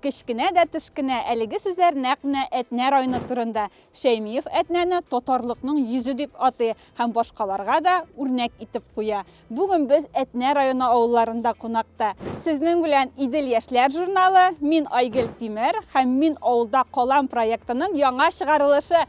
Кечкенә дә тешкенә, әлеге сүзләр нәкъ менә Әтнә районы турында. Шәймиев Әтнәне татарлыкның йөзе дип атый һәм башкаларга да үрнәк итеп куя. Бүген без Әтнә районы авылларында кунакта. Сезнең белән Идел яшьләр журналы, Мин Айгөл Тимер һәм Мин авылда калам проектының яңа чыгарылышы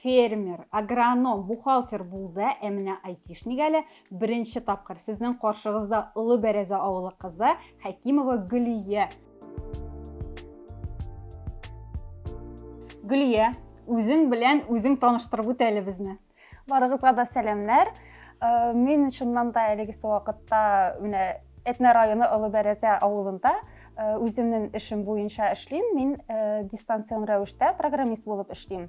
фермер, агроном, бухгалтер булды, ә менә айтишник әле беренче тапкыр сезнең каршыгызда Олы Бәрәзә авылы кызы Хәкимова Гөлия. Гөлия, үзең белән үзең таныштырып үт әле безне. Барыгызга да сәламнәр. Э, мин чыннан да әлеге вакытта менә Әтнә районы Олы Бәрәзә авылында Э, үземнең эшем буенча эшлим мин э, дистанцион рәвештә программист булып эшлим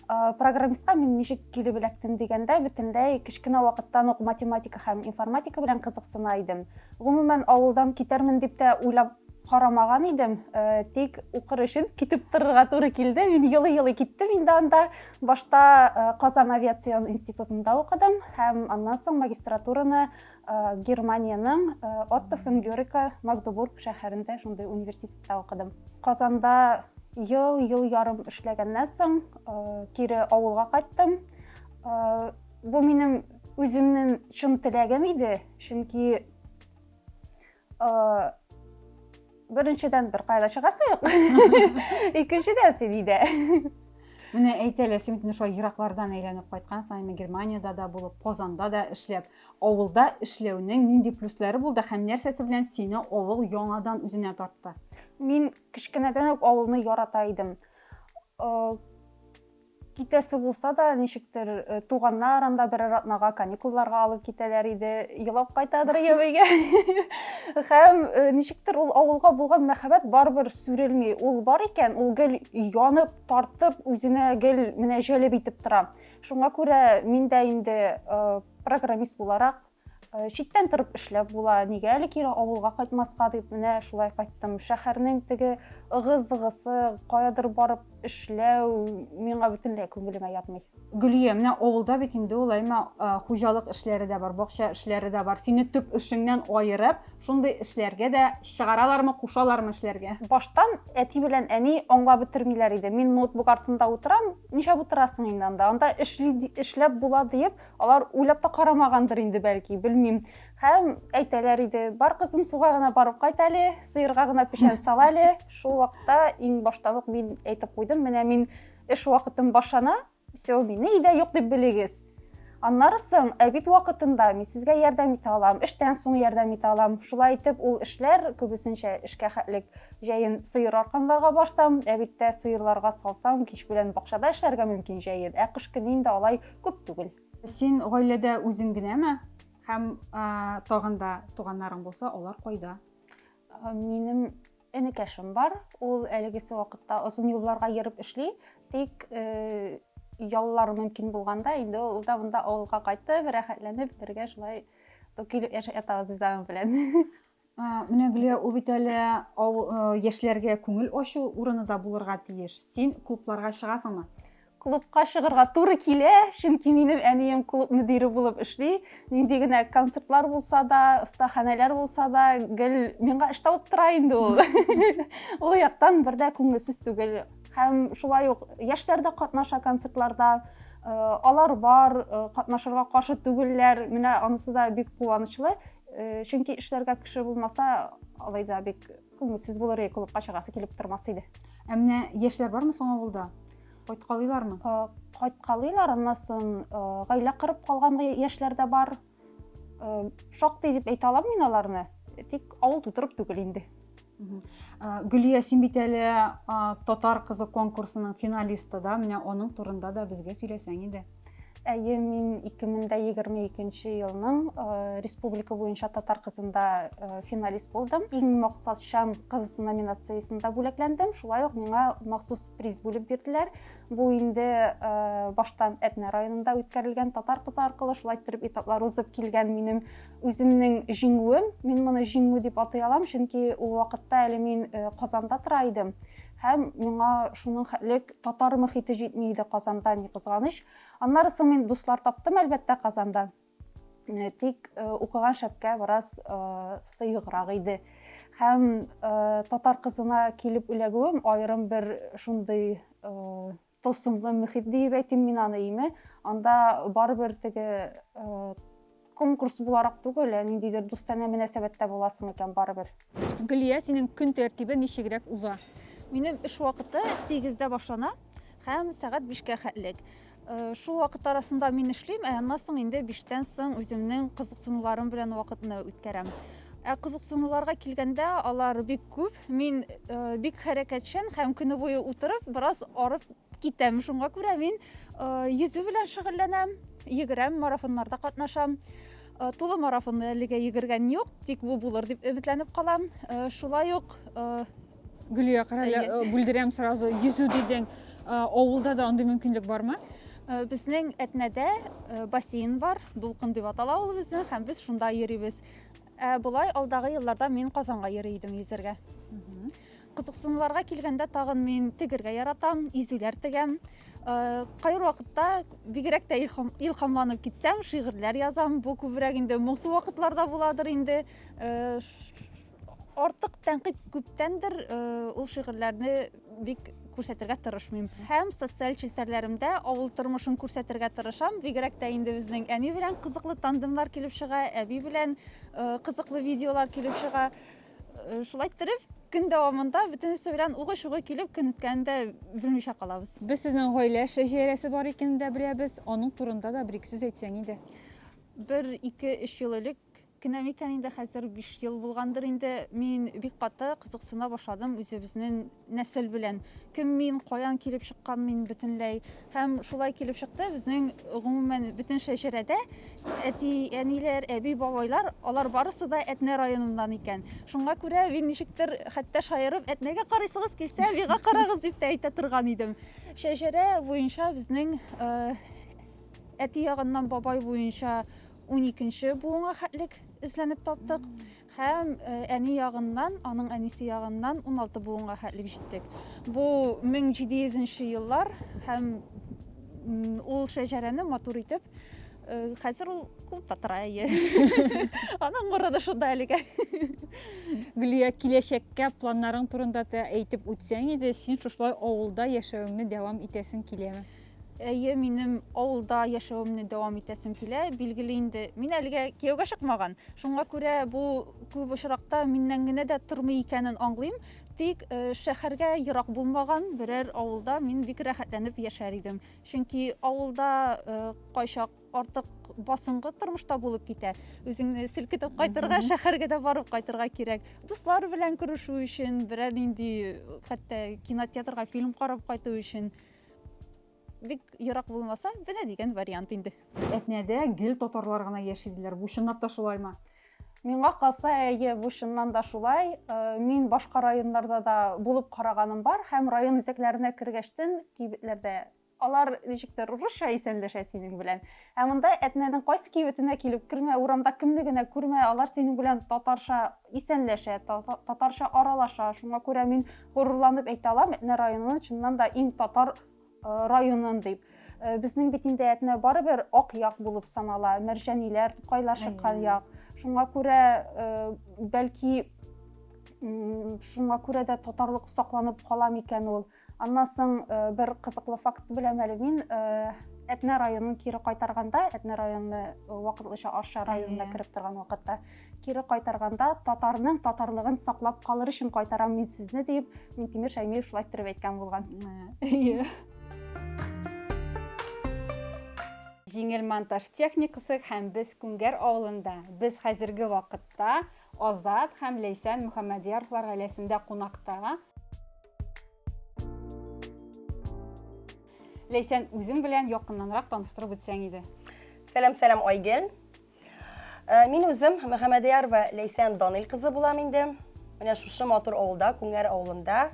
Э, программистка мин ничек килеп эләктем дигәндә бөтенләй кечкенә вакыттан ук математика һәм информатика белән кызыксына идем гомумән авылдан китәрмен дип тә уйлап карамаган идем э, тик укыр өчен китеп торырга туры килде мин елый елый киттем инде анда башта э, казан авиацион институтында укыдым һәм аннан соң магистратураны Германиянең Отто фон Гёрика Магдебург шәһәрендә шундый университетта укыдым. Казанда ел, ел ярым эшләгәннән соң кире авылга кайттым. Бу минем үземнең чын теләгем иде, чөнки Беренчедән бер кайда чыгасы юк. Икенчедән син өйдә. Менә әйт әле, син бит шулай ераклардан әйләнеп кайткансың, әмма Германиядә дә булып, Казанда да эшләп, авылда эшләүнең нинди плюслары булды һәм нәрсәсе белән сине авыл яңадан үзенә тартты? Мин кечкенәдән үк авылны ярата идем. Китәсе булса да, ничектер э, туганнар анда берәр атнага каникулларга алып китәләр иде. Елап кайтадыр Ябыйга. Һәм э, ничектер ул авылга булган мәхәббәт барыбер сүрелми. Ул бар икән, ул гел янып, тартып, үзенә гел менә җәлеп итеп тора. Шуңа күрә мин дә инде э, программист буларак Э, читтән торып эшләп була нигә әле кире авылга кайтмаска дип менә шулай кайттым шәһәрнең теге ыгы-зыгысы каядыр барып эшләү миңа бөтенләй күңелемә ятмый гөлия менә авылда бит инде ул әймә э, хуҗалык эшләре дә бар бакча эшләре дә бар сине төп эшеңнән аерып шундый эшләргә дә чыгаралармы кушалармы эшләргә баштан әти белән әни аңлап бетермиләр иде мин ноутбук артында утырам нишләп утырасың инде анда анда эшли эшләп була диеп Алар уйлап та карамагандыр инде, бәлки, белмим. Һәм әйтәләр иде, бар кызым суга гына барып кайт әле, сыерга гына печән сал әле. Шул вакытта иң баштан ук мин әйтеп куйдым, менә мин эш вакытым башлана, все, мине өйдә юк дип белегез. Аннары соң әбит вакытында мин сезгә ярдәм итә алам, эштән соң ярдәм итә алам. Шулай итеп ул эшләр күбесенчә эшкә хәтлек җәен сыер арканларга барсам, әбиттә сыерларга салсам, кич белән бакчада эшләргә мөмкин җәен. Ә кыш көне инде алай күп түгел. Син гаиләдә үзең генәме? Һәм тагын да туганнарың булса, алар кайда? Минем энекәшем бар. Ул әлегесе вакытта озын юлларга йөреп эшли, тик э, яллар мөмкин булганда инде ул да монда авылга кайтып, рәхәтләнеп бергә шулай токилеп яшәп ятабыз без аның белән. Менә Гөлия, ул бит әле яшьләргә күңел ачу урыны да булырга тиеш. Син клубларга чыгасыңмы? клубка чыгырга туры килә, чөнки минем әнием клуб мөдире булып эшли. Нинди генә концертлар булса да, остаханәләр булса да, гел миңа эш табып тора инде ул. Ул яктан бер дә күңелсез түгел. Һәм шулай ук яшьләр дә катнаша концертларда. Э, алар бар, э, катнашырга каршы түгелләр. Менә анысы да бик куанычлы. Э, чөнки эшләргә кеше булмаса алай да бик күңелсез булыр иде клубка чыгасы килеп тормас иде ә менә яшьләр бармы соң авылда кайткалыйлармы э, кайткалыйлар аннан соң э, гаилә корып калган яшьләр дә бар шактый дип әйтә алам мин аларны тик авыл тутырып түгел инде Гөлия, син бит әле татар кызы конкурсының финалисты да, менә аның турында да безгә сөйләсәң иде. Әйе, мин 2022 елның республика буенча татар кызында финалист булдым. Иң максатчан кыз номинациясендә бүләкләндем. Шулай ук миңа махсус приз бүлеп бирделәр. Бу инде баштан Әтнә районында үткәрелгән татар кызы аркылы шулай итеп этаплар узып килгән минем Үземнең җиңүем, мин моны җиңү дип атый алам, чөнки ул вакытта әле мин э, Казанда тора идем һәм миңа шуның хәтлек татар мөхите җитми иде Казанда, ни кызганыч. Аннары соң мин дуслар таптым, әлбәттә, Казанда. Э, тик э, укыган шәпкә бераз сыеграк иде. Һәм татар кызына килеп эләгүем аерым бер шундый Тылсымлы мөхит диеп әйтим мин аны име, анда барыбер теге конкурс буларак түгел, ә ниндидер дустанә мөнәсәбәттә буласың икән барыбер. Гөлия, синең көн тәртибе ничегрәк уза? Минем эш вакыты 8-дә башлана һәм сәгать 5-кә хәтлек. Э, шул вакыт арасында мин эшлим, ә аннан соң инде 5-тән соң үземнең кызыксынуларым белән вакытны үткәрәм. Ә кызыксынуларга килгәндә, алар бик күп. Мин э, бик хәрәкәтчән һәм көне буе утырып, бераз арып китәм. Шуңа күрә мин э, йөзү белән шөгыльләнәм, йөгерәм, марафоннарда катнашам. Э, тулы марафонны әлегә йөгергән юк, тик бу булыр дип өметләнеп калам. Э, шулай ук э, Гөлия, карале, э, бүлдерәм сразу. Йөзү дидең. Э, Авылда да андый мөмкинлек бармы? Э, Безнең Әтнәдә э, бассейн бар, Дулкын дип атала ул безнең, һәм без шунда йөрибез. Ә болай алдагы елларда мин Казанга йөри идем йөзәргә. Кызыксынуларга килгәндә тагын мин тегергә яратам, изүләр тегәм. Э, Кайбер вакытта бигрәк тә илхам, илхамланып китсәм, шигырьләр язам. Бу күбрәк инде моңсу вакытларда буладыр инде. Э, ш- Артык тәнкыйть күптәндер э, ул шигырьләрне бик күрсәтергә тырышмыйм. Һәм социаль челтәрләремдә авыл тормышын күрсәтергә тырышам. Бигрәк тә инде безнең әни белән кызыклы тандемлар килеп чыга, әби белән э, кызыклы видеолар килеп чыга. Э, шулай иттереп, көн дәвамында бөтенесе белән угы-шугы килеп көн үткәнен дә белмичә калабыз. Без сезнең гаилә шәҗәрәсе бар икәнен дә беләбез. Аның турында да бер-ике сүз әйтсәң иде. Бер, ике, өч ел элек Кенә микән инде, хәзер биш ел булгандыр инде, мин бик каты кызыксына башладым үзебезнең нәсел белән. Кем мин, каян килеп чыккан мин бөтенләй. Һәм шулай килеп чыкты, безнең, гомумән, бөтен шәҗәрәдә әти-әниләр, әби-бабайлар, алар барысы да Әтнә районыннан икән. Шуңа күрә мин ничектер хәтта шаярып, Әтнәгә карыйсыгыз килсә, миңа карагыз, дип тә әйтә торган идем. Шәҗәрә буенча безнең әти ягыннан бабай буенча Уникенче буынга хәтлек эзләнеп таптык һәм әни ягыннан, аның әнисе ягыннан 16 буынга хәтлек җиттек. Бу 1700 нче еллар һәм ул шәҗәрәне матур итеп хәзер ул клубта тора әйе аның морыды шунда әлегә гөлия киләчәккә планнарың турында да әйтеп үтсәң иде син шушылай авылда яшәвеңне дәвам итәсең киләме Әйе, минем авылда яшәвемне дәвам итәсем килә. Билгеле инде, мин әлегә кияүгә чыкмаган. Шуңа күрә бу күп очракта миннән генә дә тормый икәнен аңлыйм. Тик э, шәһәргә ерак булмаган берәр авылда мин бик рәхәтләнеп яшәр идем. Чөнки авылда э, кайчак артык басыңгы тормышта булып китә. Үзеңне селкетеп кайтырга, шәһәргә дә барып кайтырга кирәк. Дуслар белән күрешү өчен, берәр нинди хәтта кинотеатрга фильм карап кайту өчен. бик ерак булмаса менә дигән вариант инде әтнәдә гел татарлар гына яши диләр бу чынлап та шулаймы миңа калса әйе бу чыннан да шулай э, мин башка районнарда да булып караганым бар һәм район үзәкләренә кергәчтен кибетләрдә алар ничектер русча исәнләшә синең белән Ә монда Әтнәнең кайсы кибетенә килеп кермә, урамда кемне генә күрмә, алар синең белән татарча исәнләшә, татарча аралаша. Шуңа күрә мин горурланып әйтә алам, Әтнә районын чыннан да иң татар районын дип. Безнең бит инде Әтнә барыбер ак як булып санала, мәрҗәниләр, тукайлар чыккан як. Шуңа күрә бәлки шуңа күрә дә татарлык сакланып кала микән ул? Аннан соң бер кызыклы факт беләм әле мин. Әтнә районын кире кайтарганда, Әтнә районы вакытлыча Арча районына кереп торган вакытта, кире кайтарганда татарның татарлыгын саклап калыр өчен кайтарам мин сезне дип, Минтимер Шәймиев шулай иттереп әйткән булган. Әйе. Җиңел монтаж техникасы һәм без Күңгәр авылында. Без хәзерге вакытта Азат һәм Ләйсән Мөхәммәдияровлар гаиләсендә кунакта. Ләйсән, үзең белән якыннанрак таныштырып үтсәң иде. Сәлам, сәлам, Айгел. Э, мин үзем Мөхәммәдиярова Ләйсән Данил кызы булам инде. Менә шушы матур авылда, Күңәр авылында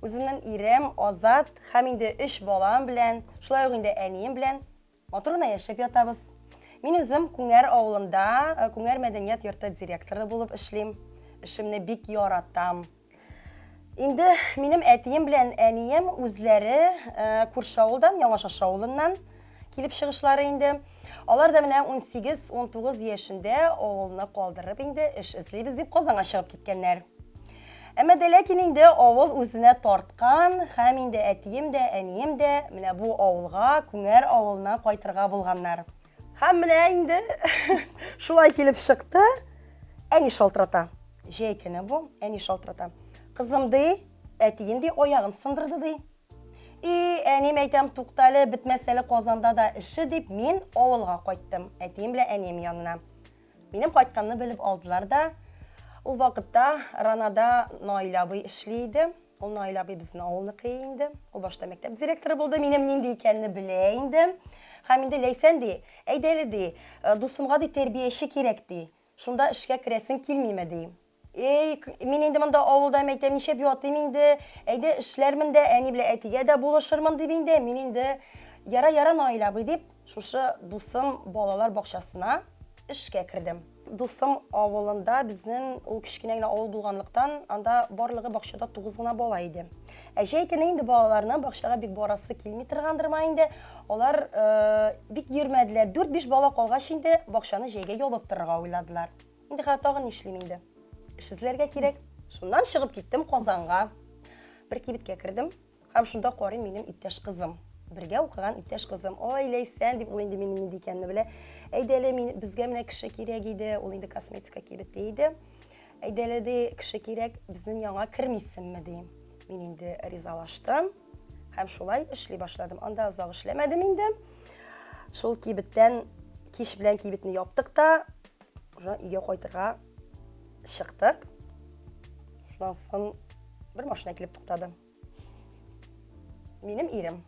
үземнең ирем Азат һәм инде 3 балам белән, шулай ук инде әнием белән Матур гына яшәп ятабыз. Мин үзем Күңәр авылында Күңәр мәдәният йорты директоры булып эшлим. Эшемне бик яратам. Инде минем әтием белән әнием үзләре күрше авылдан, Яңашаша авылыннан килеп чыгышлары инде. Алар да менә 18-19 яшендә авылны калдырып инде эш эзлибез дип Казанга чыгып киткәннәр. Әмма дә ләкин инде авыл үзенә тарткан һәм инде әтием дә, әнием дә менә бу авылга, Күңәр авылына кайтырга булганнар. Һәм менә инде шулай килеп чыкты, әни шалтырата. Җәй көне бу, әни шалтырата. Кызым, ди, әтиең, ди, аягын сындырды, ди. И, әнием, әйтәм, тукта әле, бетмәс әле Казанда да эше, дип, мин авылга кайттым, әтием белән әнием янына. Минем кайтканны белеп алдылар да. Ул вакытта Ранада Наил абый эшли иде. Ул Наил абый безнең авылныкы инде. Ул башта мәктәп директоры булды. Минем нинди икәнне белә инде. Һәм инде Ләйсән ди, әйдәле ди, э, дусымга ди тәрбияче кирәк ди. Шунда эшкә керәсең килмиме ди. Эй, мин инде монда авылда мәйтәм, ничәп ятыйм инде. Әйдә эшләрмен дә, әни белән әтигә дә булышырмын дип инде. Мин инде яра яра Наил абый дип, шушы дусым балалар бакчасына эшкә кердем. Дусым авылында безнең ул кечкенә генә авыл булганлыктан, анда барлыгы бакчада тугыз гына бала иде. Ә җәй көне инде балаларны бакчага бик барасы килми торгандыр ма инде. Алар э, бик йөрмәделәр. Дүрт-биш бала калгач инде бакчаны җәйгә ябып торырга уйладылар. Инде хәзер тагын нишлим инде? Эш эзләргә кирәк. Шуннан чыгып киттем Казанга. Бер кибеткә кердем һәм шунда карыйм минем иптәш кызым. Бергә укыган иптәш кызым. Ой, Ләйсән дип ул инде минем нинди икәнне белә. Әйдәле, мин безгә менә кеше кирәк иде. Ул инде косметика кибете иде. Әйдәле ди, кеше кирәк, безнең яңа кермисеңме ди. Мин инде ризалаштым һәм шулай эшли башладым. Анда озак эшләмәдем инде. Шул кибеттән кич белән кибетне яптык та, уже өйгә кайтырга чыктык шуннан соң бер машина килеп туктады минем ирем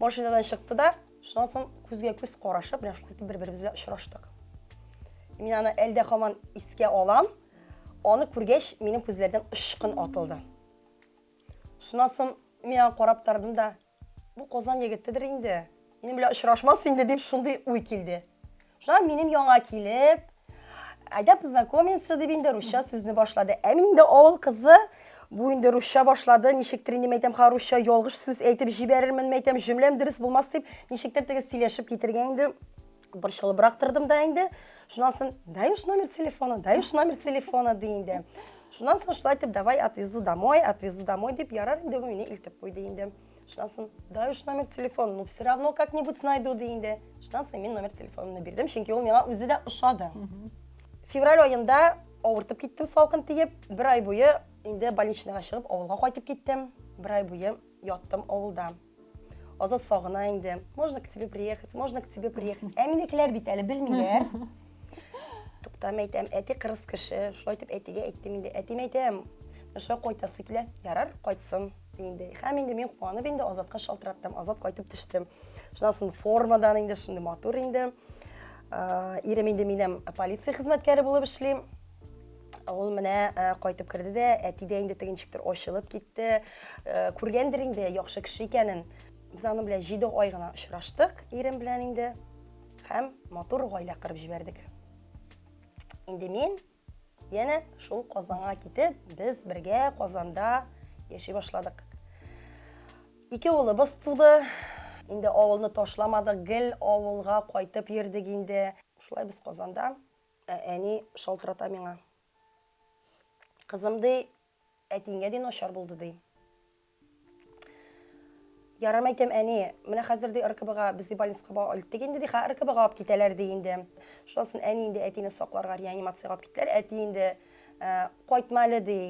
машинадан чыкты да шуннан соң күзгә күз карашып менә шулай итеп бер беребез белән очраштык мин аны әлдә һаман искә алам аны күргәч минем күзләрдән очкын атылды шуннан соң мин аны карап тордым да Бу Казан егетедер инде, минем белән очрашмас инде, дип шундый уй килде. Шуннан минем яңа килеп, әйдә познакомимся, дип инде русча сүзне башлады. Ә мин инде авыл кызы, бу инде русча башлады, ничектер инде мәйтәм ха русча ялгыш сүз әйтеп җибәрермен мәйтәм, җөмләм дөрес булмас дип, ничектер теге сөйләшеп китергә инде Борчылыбрак тордым да инде. Шуннан соң, даешь номер телефона, даешь номер телефона, ди инде. Шуннан соң шулай итеп, давай отвезу домой, отвезу домой дип, ярар инде бу мине илтеп куйды инде. Шуннан соң, даешь номер телефона, ну все равно как-нибудь найду, ди инде. Шуннан соң мин номер телефонымны бирдем, чөнки ул миңа үзе дә ошады. Февраль аенда авыртып киттем салкын тиеп, бер ай буе инде больничныйга чыгып, авылга кайтып киттем. Бер ай буе яттым авылда. Азат сагына инде. Можно к тебе приехать, можно к тебе приехать. Ә минекеләр бит әле белмиләр. Туктам әйтәм, әти кырыс кеше. Шулай итеп әтигә әйттем инде. Әтиме әйтәм, Шулай кайтасы килә. Ярар, кайтсын инде. Һәм инде мин куанып инде Азатка шалтыраттым. Азат кайтып төште. Шуннан соң формадан инде шундый матур инде. Ирем инде минем полиция хезмәткәре булып эшли. Ул менә кайтып керде дә, әти дә инде тегенчектер ачылып китте. Күргәндер инде яхшы кеше икәнен. Без аның белән 7 ай гына очраштык, ирем белән инде. Һәм матур гаилә кырып җибәрдек. Инде мин янә шул Казанга китеп, без бергә Казанда яши башладык. Ике улыбыз туды. Инде авылны ташламадык, гел авылга кайтып йөрдек инде. Шулай без Казанда Ә әни шалтырата миңа. Кызым, ди, әтиеңә ди начар булды, ди. Ярар, мәйтәм, әни, менә хәзер ди РКБга, без ди больницага бала илттек инде, ди, хә РКБга алып китәләр, ди инде. Шуннан соң әни инде әтине сакларга реанимациягә алып киттеләр, әти инде, Кайтма әле, ди.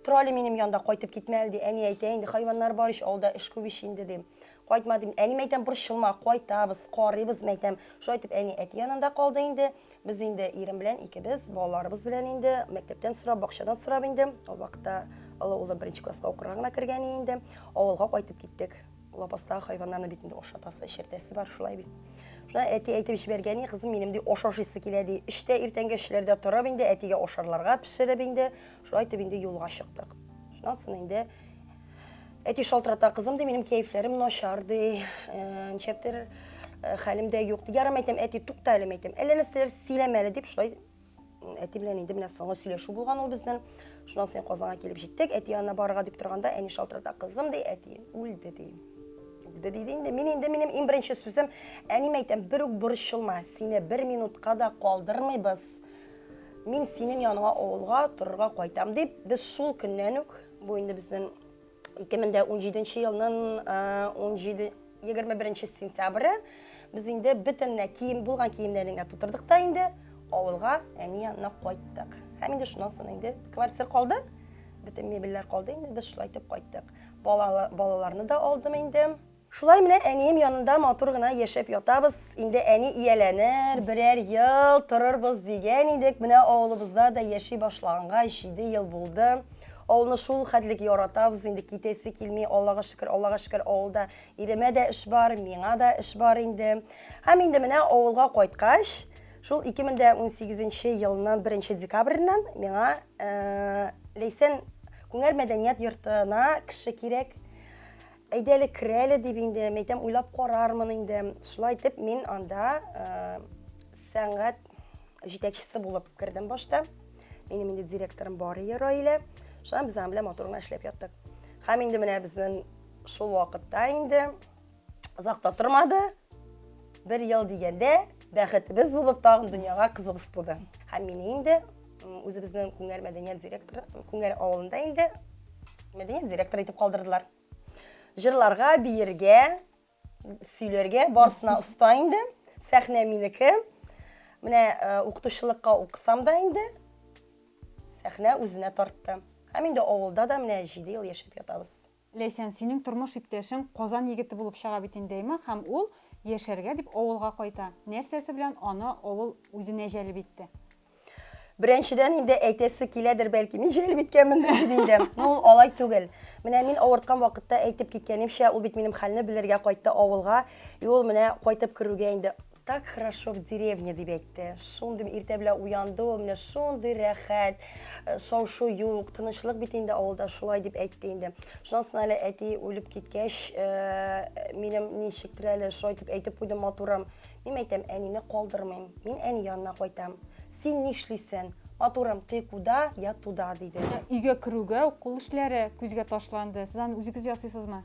Тора әле минем янда, кайтып китмә әле, ди. Әни әйтә, инде хайваннар бар ич, авылда эш күп ич инде, дим. Кайтма, дим. Әни мәйтәм, борчылма, кайтабыз, карыйбыз, мәйтәм. Шулай итеп, әни әти янында калды инде. Без инде ирем белән икебез, балаларыбыз белән инде мәктәптән сорап, бакчадан сорап инде. Ул вакытта олы улым беренче класска укырга гына кергән инде. Авылга кайтып киттек. Лапастагы хайваннарны бит инде ашатасы, эчертәсе бар, шулай бит. Шуна әти әйтеп җибәргән, и кызым, минем ди ашашысы килә ди. Эштә иртәнге эшләрдә торып инде әтигә ашарларга пешереп инде, шулай итеп инде юлга чыктык. Шуннан соң инде әти шалтырата, кызым ди, минем кәефләрем начар ди. Э, ничәптер э, хәлем дә юк. Ярым әйтәм, әти, тукта әле әйтәм. Әллә нәрсәләр сөйләмәле дип шулай Әти белән инде менә соңгы сөйләшү булган ул безнең. Шуннан соң Казанга килеп җиттек. Әти янына барырга дип торганда, әни шалтырата, кызым ди, әти үлде ди. Үлде диде инде. Мин инде минем иң беренче сүзем, әнием әйтәм, бер үк борчылма, сине бер минутка да калдырмыйбыз. Мин синең яныңа авылга торырга кайтам дип, без шул көннән үк, бу инде безнең 2017 елның 17 21 сентябре без инде бөтенләй кием булган киемнәрен генә тутырдык та инде авылга әни янына кайттык һәм инде шуннан соң инде квартира калды бөтен мебельләр калды инде без шулай итеп кайттык балаларны да алдым инде Шулай менә әнием янында матур гына яшәп ятабыз. Инде әни ияләнер, берәр ел торырбыз дигән идек. Менә авылыбызда да яши башлаганга җиде ел булды. Авылны шул хәтлек яратабыз, инде китәсе килми. Аллага шөкер, Аллага шөкер, авылда иремә дә эш бар, миңа да эш бар инде. Һәм инде менә авылга кайткач, шул 2018 нче елның 1 нче декабреннән миңа Ләйсән күңәр мәдәният йортына кеше кирәк. Әйдә әле кер әле, дип инде, мин әйтәм, уйлап карармын инде. Шулай итеп, мин анда сәнгать җитәкчесе булып кердем башта. Минем инде директорым бар иде Раилә. Шулай без аның белән матур гына эшләп яттык. Һәм инде менә безнең шул вакытта инде озак та тормады. Бер ел дигәндә, бәхетебез булып тагын дөньяга кызыбыз туды. Һәм мине инде Үзебезнең Күңәр мәдәният директоры, Күңәр авылында инде мәдәният директоры итеп калдырдылар. Җырларга, биергә, сөйләргә барсына оста инде. Сәхнә минеке. Менә э, укытучылыкка укысам да инде сәхнә үзенә тартты. Һәм инде авылда да менә 7 ел яшәп ятабыз. Ләйсән, синең тормыш иптәшең Казан егете булып чыга бит инде, әйма, һәм ул, яшәргә дип, авылга кайта. Нәрсәсе белән аны авыл үзенә җәлеп итте? Беренчедән инде, әйтәсе киләдер, бәлки, мин җәлеп иткәнмендер дип инде. Но ул алай түгел. Менә мин авырткан вакытта әйтеп киткәнемчә, ул бит минем хәлне белергә кайтты авылга. И ул менә кайтып керүгә инде Так хорошо в деревне, дип әйтте. Шундый иртә белән уянды ул, менә шундый рәхәт, э, шау-шу юк, тынычлык бит инде авылда, шулай дип әйтте инде. Шуннан соң әле әти үлеп киткәч, э, минем ничектер әле шулай дип әйтеп куйды матурым. Мин әйтәм, әнине калдырмыйм, мин әни янына кайтам. Син нишлисен? Матурым, ты куда, я туда, диде. Өйгә керүгә үк кул эшләре күзгә ташланды. Сез аны үзегез ясыйсызмы?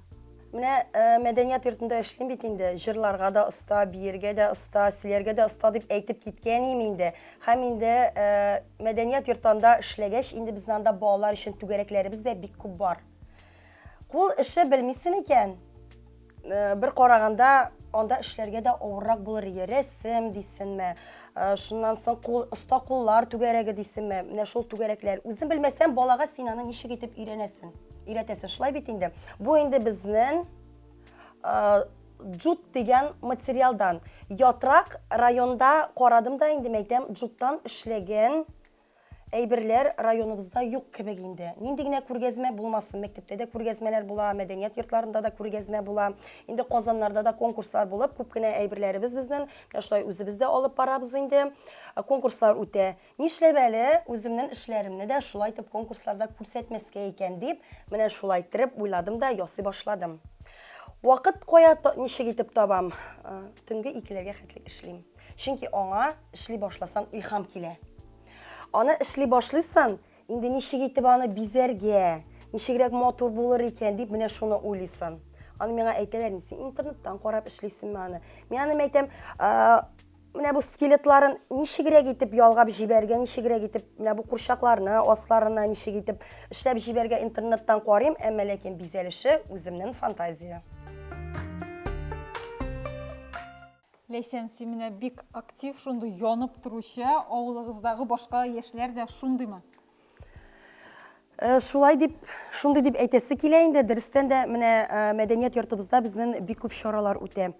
Менә мәдәният йортында эшлим бит инде. Җырларга да оста, биергә дә оста, сөйләргә дә оста дип әйтеп киткән идем инде. Һәм инде мәдәният йортында эшләгәч, инде безнең анда балалар өчен түгәрәкләребез дә бик күп бар. Кул эше белмисен икән, бер караганда анда эшләргә дә авыррак булыр иде. Рәсем дисенме, Шуннан соң кул, оста куллар түгәрәге дисеме, менә шул түгәрәкләр. Үзен белмәсәм, балага син аны ничек итеп өйрәнәсен, өйрәтәсен. Шулай бит инде. Бу инде безнен джут дигән материалдан. Ятрак районда карадым да инде мәйтәм, джуттан эшләгән Әйберләр районыбызда юк кебек инде. Нинди генә күргәзмә булмасын, мәктәптә дә күргәзмәләр була, мәдәният йортларында да күргәзмә була. Инде Казаннарда да конкурслар булып, күп кенә әйберләребез безнен менә шулай үзебез дә алып барабыз инде. Конкурслар үтә. Нишләп әле үземнен эшләремне дә шулай итеп конкурсларда күрсәтмәскә икән дип, менә шулай иттереп уйладым да ясый башладым. Вакыт кая, ничек итеп табам? Төнге икеләргә хәтле эшлим. Чөнки аңа эшли башласан илһам килә. Аны эшли башлыйсан, инде ничек итеп аны бизәргә, ничегрәк матур булыр икән дип менә шуны уйлыйсан. Аны миңа әйтәләр, син интернеттан карап эшлисеңме аны? Мин аны әйтәм, менә бу скелетларын ничегрәк итеп ялгап җибәргә, ничегрәк итеп менә бу курчакларны, асларына ничек итеп эшләп җибәргә интернеттан карыйм, әмма ләкин бизәлеше үземнең фантазия. Ләйсән, син менә бик актив, шундый янып торучы, авылыгыздагы башка яшьләр дә шундыймы? Шулай дип, шундый дип әйтәсе килә инде. Дөрестән дә, менә мәдәният йортыбызда безнең бик күп чаралар үтә.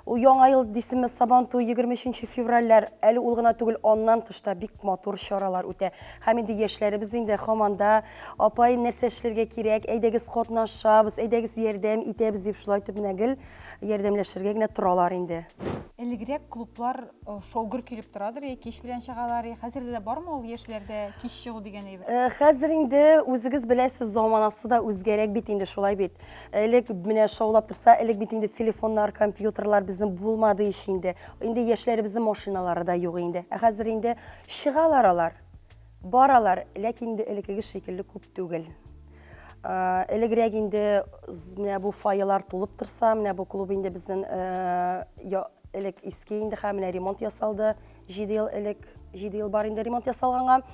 Ул яңа ел дисеме, Сабан туй, 23 февральләр, әле ул гына түгел, аннан тыш та бик матур чаралар үтә. Һәм инде яшьләребез инде хаманда, апай, нәрсә эшләргә кирәк, әйдәгез катнашабыз, әйдәгез ярдәм итәбез дип, шулай итеп менә гел Ярдәмләшергә генә торалар инде. Элегрәк клублар шау-гөр килеп торадыр, я кич белән чыгалар, я хәзер дә бармы ул яшьләрдә кич чыгу дигән әйбер? Хәзер инде үзегез беләсез, заманасы да үзгәрәк бит инде, шулай бит. Элек менә шаулап торса, элек бит инде телефоннар, компьютерлар безнең булмады ич инде. Инде яшьләребезнең машиналары да юк инде. Ә хәзер инде чыгалар алар. Баралар, ләкин инде элеккеге шикелле күп түгел. Элегрәк инде менә бу фойелар тулып торса, менә бу клуб инде безнең элек иске инде, һәм менә ремонт ясалды. 7 ел элек, 7 ел бар инде ремонт ясалганга.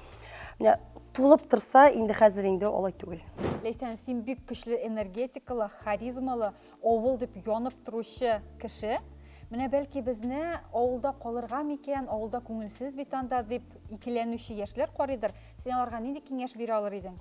Менә тулып торса, инде хәзер инде алай түгел. Ләйсән, син бик көчле энергетикалы, харизмалы. Авыл дип янып торучы кеше, менә бәлки безне авылда калырга микән, авылда күңелсез бит анда дип икеләнүче яшьләр карыйдыр. Син аларга нинди киңәш бирә алыр идең?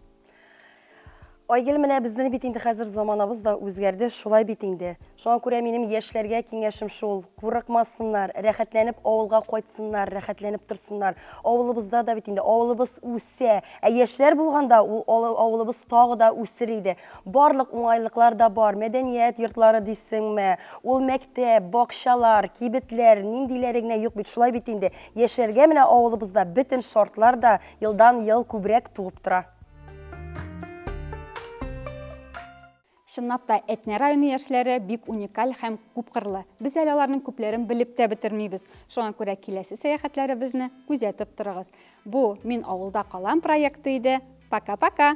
Айгөл, менә безнең бит инде хәзер заманабыз да үзгәрде, шулай бит инде. Шуңа күрә минем яшьләргә киңәшем шул, курыкмасыннар, рәхәтләнеп авылга кайтсыннар, рәхәтләнеп торсыннар. Авылыбызда да бит инде, авылыбыз үсә. Ә яшьләр булганда, ул авылыбыз тагы да үсер иде. Барлык уңайлыклар да бар, мәдәният йортлары дисеңме, ул мәктәп, бакчалар, кибетләр, ниндиләре генә юк бит, шулай бит инде, яшәргә менә авылыбызда бөтен шартлар да елдан-ел күбрәк туып тора. Чынлап та, Әтнә районы яшьләре бик уникаль һәм күпкырлы. Без әле аларның күпләрен белеп тә бетермибез. Шуңа күрә киләсе сәяхәтләребезне күзәтеп торыгыз. Бу Мин авылда калам проекты иде. Пока-пока!